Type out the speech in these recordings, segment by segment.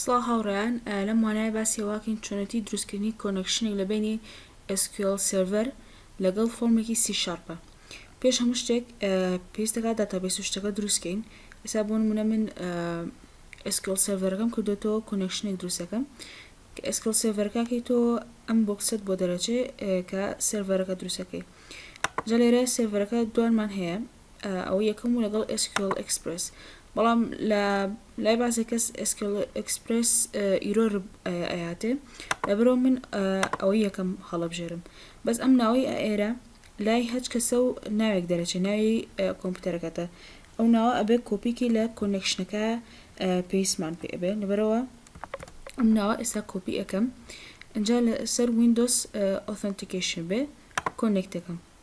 سڵاو هاوڕێیان لەم وانایە باسی ئەوەکەین چۆنێتی دروستکردنی کۆنێکشنێک لە بینی SQL سێرڤەر لەگەڵ فۆرمێکی سی شارپە پێش هەموو شتێک پێویستەکە داتابێس و شتەکە دروستکەین ئێستا بۆ نمونە من SQL سێرڤەرەکەم کردوێتەوە کۆنێکشنێک دروستەکەم کە SQL سێرڤەرەکەی تۆ ئەم بۆکسەت بۆ دەرەچێ کە سێرڤەرەکە دروستەکەی جا لێرە سێرڤەرەکە دوانمان هەیە ئەوە یەکەم و لەگەڵ SQL Express بەڵام لە لای بازێک کەس SQL Express ئیرۆر ئەیاتێ لەبەرەوە من ئەوە یەکەم هەڵەبژێرم بەس ئەم ناوەی ئێرە لای هەچ کەسە و ناوێک دەرەچێ ناوی کۆمپیوتەرەکەتە ئەو ناوە ئەبێ کۆپیکی لە کۆنێکشنەکە پێیسمان پێ ئەبێ لەبەرەوە ئەم ناوە ئێستا کۆپی ئەەکەم ئەجا لە سەر وینندۆس ئۆثنتیکیشن بێ کۆنێکتەکەم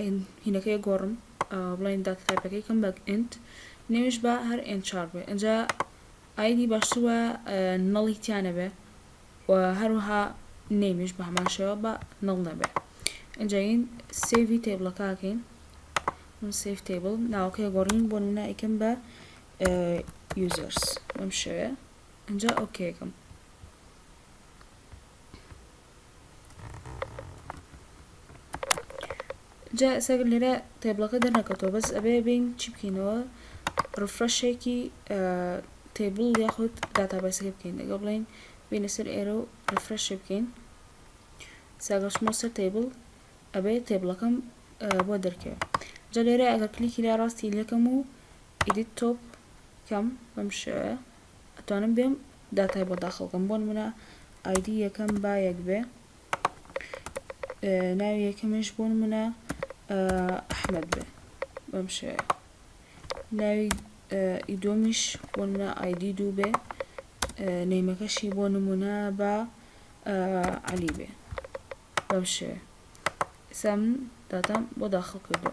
ئێن هینەکەی گۆڕم بڵێن داتا تایپەکەی کەم بە ئێنت نێوش بە هەر ئێن چار بێ ئەجا ئایدی باشتر وە نەڵی تیانە بێ و هەروەها نێمیش بە هەمان شێوە بە نەڵ نەبێ ئەجاین سێوی تێبڵەکەکەین من سیف تیبل ناوەکەی گۆڕین بۆ نمونە ئیکەم بە یوزەرس بەم شێوەیە ئەجا ئۆکێکم جا ئێستا لێرە تێبڵەکە دەرنەکەوتەوە بەس ئەبێ بین چی بکەینەوە ڕفرەشێکی تێبڵ یاخود داتابەسەکە بکەین دەگە بڵین بینە سەر ئێرە و ڕفرەشێ بکەین ساگەشمۆ سەر تێبڵ ئەبێ تێبڵەکەم بۆ دەرکەوێت جا لێرە ئەگەر کلیکی لا ڕاستی لەکەم و ئیدیت تۆپ کەم بەم شێوەیە ئەتوانم بێم داتای بۆ داخڵ بکەم بۆ نمونە ئایدی یەکەم با یەک بێ ناوی یەکەمیش بۆ نمونە ئەحمد بێ بەم شێ ناوی ئیدۆمیش بۆ نمونە ئایدی دوو بێ نەیمەکەشی بۆ نمونە بە علی بێ بەم شێ سام داتام بۆ داخڵ کردو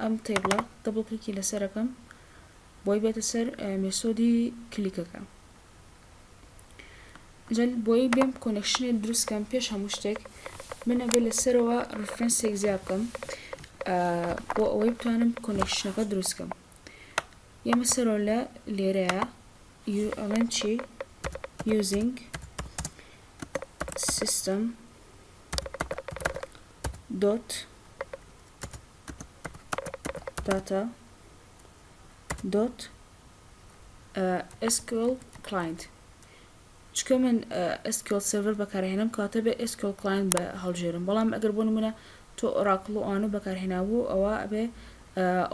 ئەم تەیبڵە دەبڵ کلیکی لەسەر ئەکەم بۆی بێتە سەر مێسۆدی کلیکەکە جا بۆی بێم کۆنەکشنێ دروستکەم پێش هەموو شتێک من ئەبێ لەسەرەوە ڕفرەنسێک زیاد بکەم بۆ ئەوەی بتوانم کۆنەکشنەکە دروستکەم ئێمە سەرۆ لە لێرەیە ئەڵێن چی using system dot داتا دۆت SQL client چکە من SQL سرڤەر بەکارهێنم کاتە بێ SQL client بە هەڵژێرم بەڵام ئەگەر بۆ نمونە تۆ ئۆراکڵ و ئەوانە بەکارهێنابوو ئەوە ئەبێ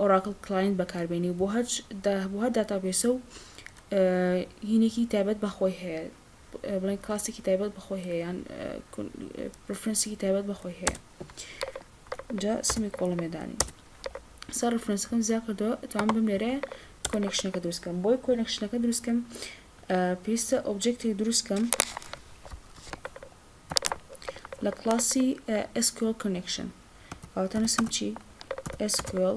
ئۆراکل کلاین بەکاربێنی بۆ هەچ بۆ هەر داتابێسە و هینێکی تایبەت بەخۆی هەیە بڵێن کلاسێکی تایبەت بەخۆی هەیەیان پرفرنسێکی تایبەت بەخۆی هەیە جا سمی کۆڵم لێ دانی سەر ڕفرەنسەکەم زیا کردەوە توان بم لێرە کۆنێکشنەکە دروستکەم بۆی کۆنێکشنەکە دروستکەم پێویستە ئۆبجێکتێک دروستکەم لە کلاسی SQL connection ئەوتەنووسم چی SQL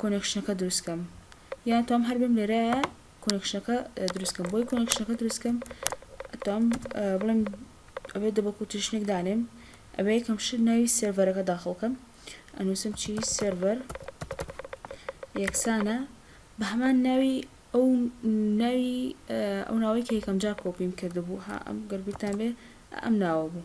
کۆنێکشنەکە دروست کەم یان تۆم هەر بم لێرە کۆنێکشنەکە دروست کەم بۆی کۆنێکشنەکە دروست کەم تۆم بڵێم ئەوێ دەبە کوتیشنێک دانێم ئەوێ یەکەم شت ناوی سێرڤەرەکە داخڵکەم ئەنووسم چی سێرڤەر یەکسانە بە هەمان ناوی ئەو ناوی ئەو ناوەی کە یەکەم جار کۆپیم کردبوو ها ئەم گەربیتان بێ ئەم ناوە بوو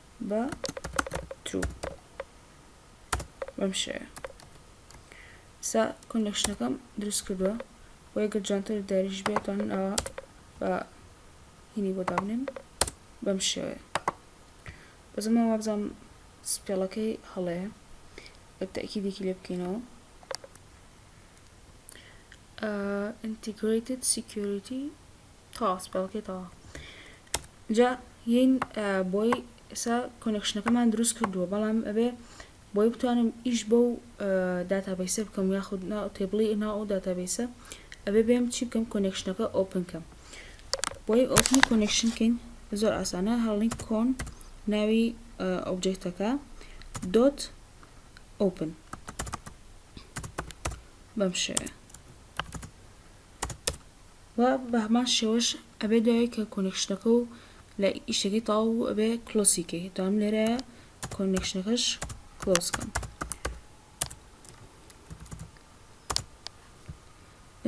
بە ترو بەم شێوە سا کۆنێکشنەکەم دروست کردووە و ئەگەر جانتەر و داریش بێتوانن ئەوە بە هینی بۆ دابنێن بەم شێوەیە بەزمە وابزانم سپێڵەکەی هەڵەیە تاکیدێکی لێ بکەینەوە integrated security تەواو سپێڵکەی تەواو جا یین بۆی ئێستا کۆنێکشنەکەمان دروست کردووە بەڵام ئەبێ بۆی بتوانم ئیش بۆ و داتابیسە بکەم یاخود تێبڵی ئنا و داتابیسە ئەبێ بێم چی بکەم کۆنێکشنەکە ئۆپن کەم بۆی ئۆپنی کۆنێکشن کەین زۆر ئاسانە هەڵین کۆن ناوی ئۆبجێکتەکە دۆت ئۆپن بەم شێوەیە و بە هەمان شێوەش ئەبێ دوای کە کۆنێکشنەکە و لە ئیشەکەی تەواو بوو ئەبێ کلۆسی کەی دام لێرەیە کۆنێکشنەکەش کلۆس کەم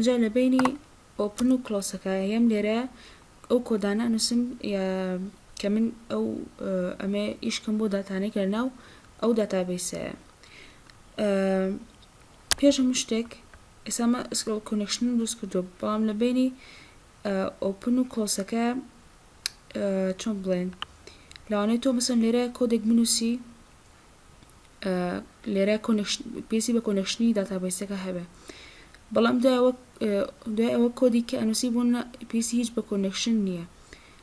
جا لە بینی ئۆپن و کلۆسەکە هەم لێرە ئەو کۆدانە نووسم کە من ئەو ئەمێ ئیشکم بۆ داتانێک لە ناو ئەو داتابیسەیە پێش هەموو شتێک ئێستا ئەمە سکرۆڵ کۆنێکشنم دروست کردووە بەڵام لە بینی ئۆپن و کۆسەکە چۆن بڵێن لەوانەیە تۆ مەسەن لێرە کۆدێک بنووسی لێرە پێسی بە کۆنێکشنی داتابیسەکە هەبێ بەڵام دوای ئەوە کۆدی کە ئەنووسی بوون پێسی هیچ بە کۆنێکشن نییە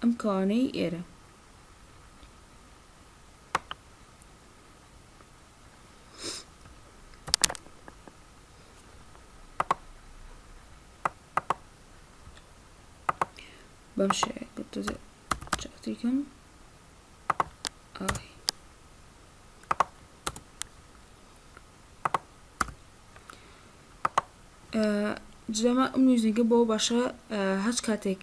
ئەم کەوانەی ئێرە. بەم شێوەیە گرتوزێ چاکتیکم ئاوی جلەمە ئەم میوزیکە بۆ باشە هەچ کاتێک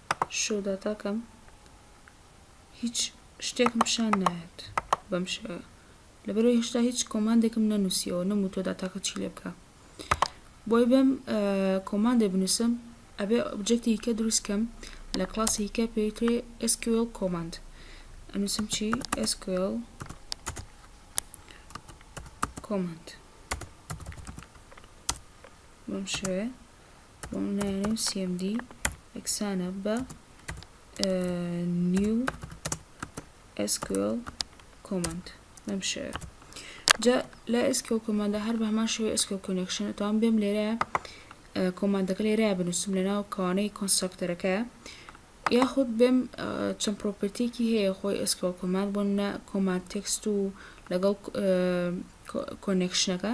شوداتاکەم هیچ شتێکم پیشان نایەت بەم شێوەیە لەبەرەوەی هێشتا هیچ کۆماندێکم نەنووسیەوە نەموو تۆ داتاکە چی لێ بکە بۆی بێم کۆماندێ بنووسم ئەبێ ئۆبجێکتی کە دروستکەم لە کلاسی کە پێوترێ SQL کۆماند ئەنووسم چی SQL کۆماند بەم شێوەیە بۆ من نایەنێ و CMD یەکسانە بە new SQL command بەم شێوە جا لە SQL command هەر بە هەمان شێوەی SQL connection توان بێم لێرە کۆماندەکە لێرە بنووسم لە ناو کەوانەی کۆنسترکتەرەکە یاخود بێم چەند پرۆپرتێکی هەیە خۆی SQL command بۆ نە کۆماند تێکست و لەگەڵ کۆنێکشنەکە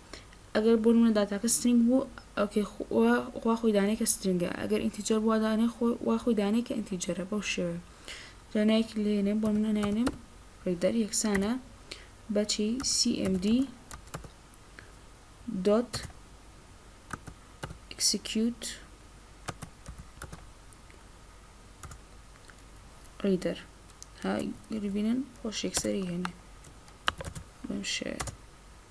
ئەگەر بۆ نمونە داتاکە سترینگ بوو ئەوکەی وا خۆی دانێ کە سترینگە ئەگەر ئینتیجەر بووە دانێ وا خۆی دانێ کە ئینتیجەرە بەو شێوێ جانایەکی لێنێ بۆ منە ناێنێم ڕیدەر یەکسانە بەچی CMD dot execute reader ها گەری بینن خۆش یەکسەری هێنێ بەم شێوێ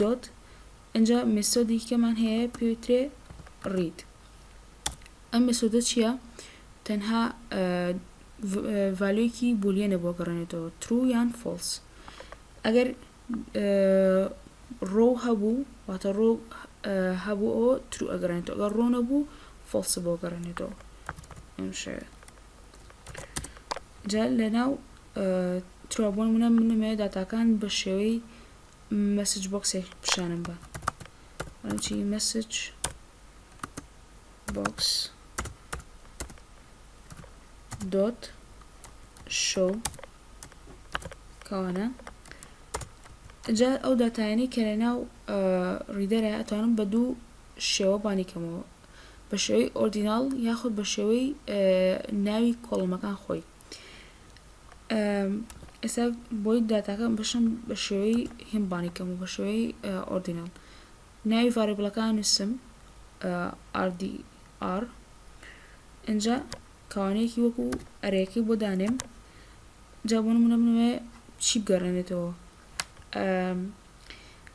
دۆت ئینجا مێسۆدی کەمان هەیە پێوترێ ڕید ئەم مێسۆدە چییە تەنها ڤالوێکی بولیەنە بۆ گەڕێنێتەوە ترو یان فۆلس ئەگەر ڕۆ هەبوو واتە ڕۆ هەبوو ئەوە ترو ئەگەڕێنێتەوە ئەگەر ڕۆ نەبوو فۆلس بۆ گەڕێنێتەوە ئەم شەوێت جا لە ناو ترابوون منە منەمەیە داتاکان بە شێوەی مەسج بۆکسێک پیشانم بە ئەڵێم چی مەسج بۆکس دۆت شەو کەوانە جا ئەو داتایانی کە لە ناو ڕیدەرە ئەتوانم بە دوو شێوە بانی کەمەوە بە شێوەی ئۆردیناڵ یاخود بە شێوەی ناوی کۆڵمەکان خۆی ئێستا بۆی داتاکە بشم بە شێوەی هێمبانی کەم و بە شێوەی ئۆردینال ناوی ڤارێبلەکان نووسم RDR اینجا کاوانەیەکی وەکو ئەرێکی بۆ دانێم جا بۆ نمونە بنوێ چی بگەڕێنێتەوە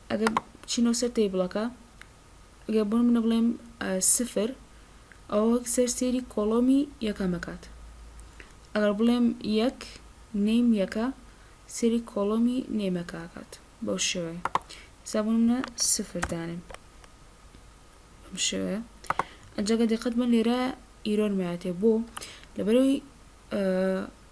ئەگەر چینەوە سەر تەیبڵەکە گەر بۆ نمونە بڵێم سفر ئەوە وەک سەر سێری کۆڵۆمی یەکەمەکات ئەگەر بڵێم یەک نیم یەکە سری کۆڵۆمی نێمەکاکات بەو شێوەیە سابونە سفردانم بەم شێوەیە ئەجاگە دقت بن لێرە ئیرۆرماتێ بۆ لەبەرەوەی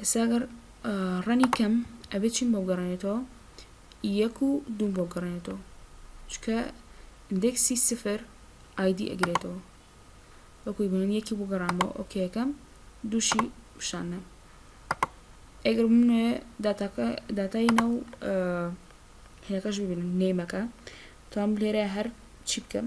ئێستا گەر ڕەنی کەم ئەبێت چین بۆ گەڕێنێتەوە یەک و دوم بۆ گەڕێنێتەوە چکە ئندێکسی سفر ئایدی ئەگرێتەوە وەکوی بنن یەکی بۆ گەڕانمەوە ئۆکەکەم دووشی پیشانە ئەگەر منێ داتاکە داتای ناو هێکەش ببینن نێمەکە تام لێرە هەر چی بکەم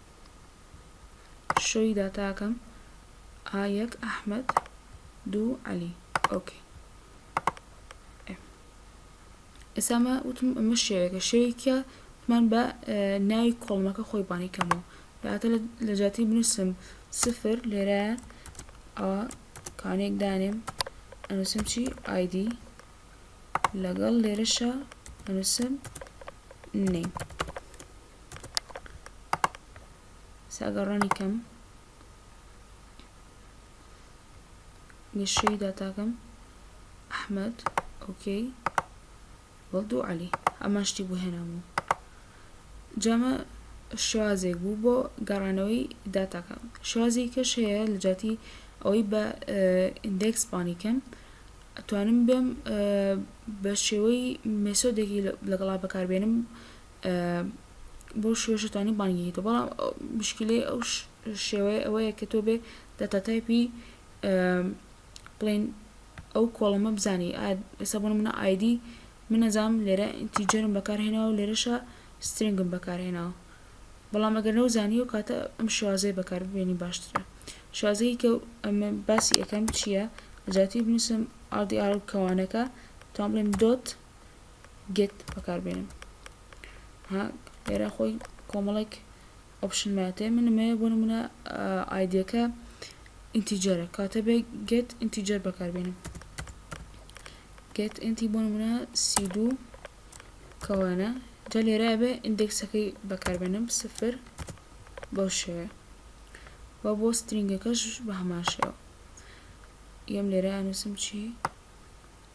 شۆی داتاکەم ئا یەک ئەحمەد دوو عەلی ئۆکەی ئێسامە وتم ئەمە شێوێکە شێوێکە من بە ناوی کۆڵمەکە خۆی بانی کەمەوە بەاتە لە جاتی بنووسم سفر لێرە ئەوە کانێک دانێم ئەنووسم چی ئایدی لەگەڵ لێرەشە ئەنووسم نەی ساگەڕانی کەم گەشەی داتاکەم ئەحمد ئۆکەی وەڵدو عەلی ئەما شتی بۆ هێنامەوە جامە شوازێک بوو بۆ گەڕانەوەی داتاکە شوازی کەش هەیە لە جاتی ئەوەی بە ئیندێکس پانی کەم ئەتوانم بێم بە شێوەی مێسۆدێکی لەگەڵا بەکاربێنم بەو شێوەیە شەتانی بانگێگی دەکەن بەڵام مشکلەی ئەو شێوەیە ئەوەیە کە تۆ بێ داتا تایپی بڵێن ئەو کۆڵەمە بزانی ئێستا بۆ منە ئایدی من نەزانم لێرە ئینتیجەرم بەکارهێناوە و لێرەشە سترنگم بەکارهێناوە بەڵام ئەگەر نەو زانی و کاتە ئەم شوازەیە بەکاربێنی باشترە شازەیە کە ئەمە باسی ئەەکەم چییە لەجاتی بنووسم ئاردی ئار کەوانەکە تا بڵێم دۆت گێت بەکار بێنم ها لێرە خۆی کۆمەڵێک ئۆپشن ماتێ من مەیە بۆ نمونە ئایدەکە ئینتیجەرە کاتە بێ گێت ئینتیجەر بەکار بێنم گێت ئینتی بۆ نمونە سی دوو کەوانە جا لێرە بێ ئیندێکسەکەی بەکار بێنم سفر بەو شێوەیە و بۆ سترینگەکەش بە هەمان شێوە یەم لێرە نووسم چی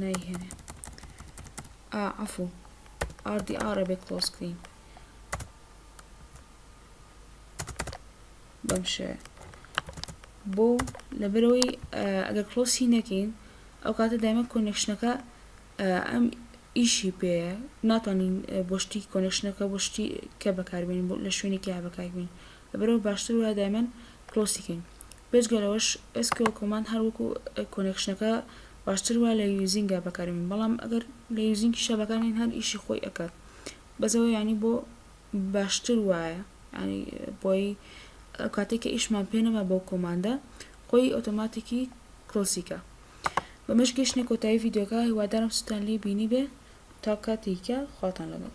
نایهێنێ ئا عەفو ئار دی ئار ئەبێ کلۆز کلین بەم شێوێ بۆ لەبەرەوەی ئەگەر کلۆسی نەکەین ئەو کاتە دایمە کۆنێکشنەکە ئەم ئیشی پێ ناتوانین بۆ شتی کۆنێکشنەکە بۆ شتی کە بەکاربین لە شوێنێکی هەبەکاربین لەبەرەوە باشتر وە دایمەن کلۆسیکەین بێجگە لەوەش SQL Command هەر وەکو کۆنێکشنەکە باشتر وایە لە یوزینگا بەکاری بێن بەڵام ئەگەر لە یوزینگیشا بەکار نێن هەر ئیشی خۆی ئەکات بەس ئەوە یانی بۆ باشتر وایە یانی بۆی ئەو کاتێک کە ئیشمان پێ نەما بەو کۆماندە خۆی ئۆتۆماتیکی کلۆسیکە بەمەش گەشتنە کۆتایی ڤیدیۆکە هیوادارم سوتان لێ بینی بێ تا کاتێکە خواتان لەگەڵ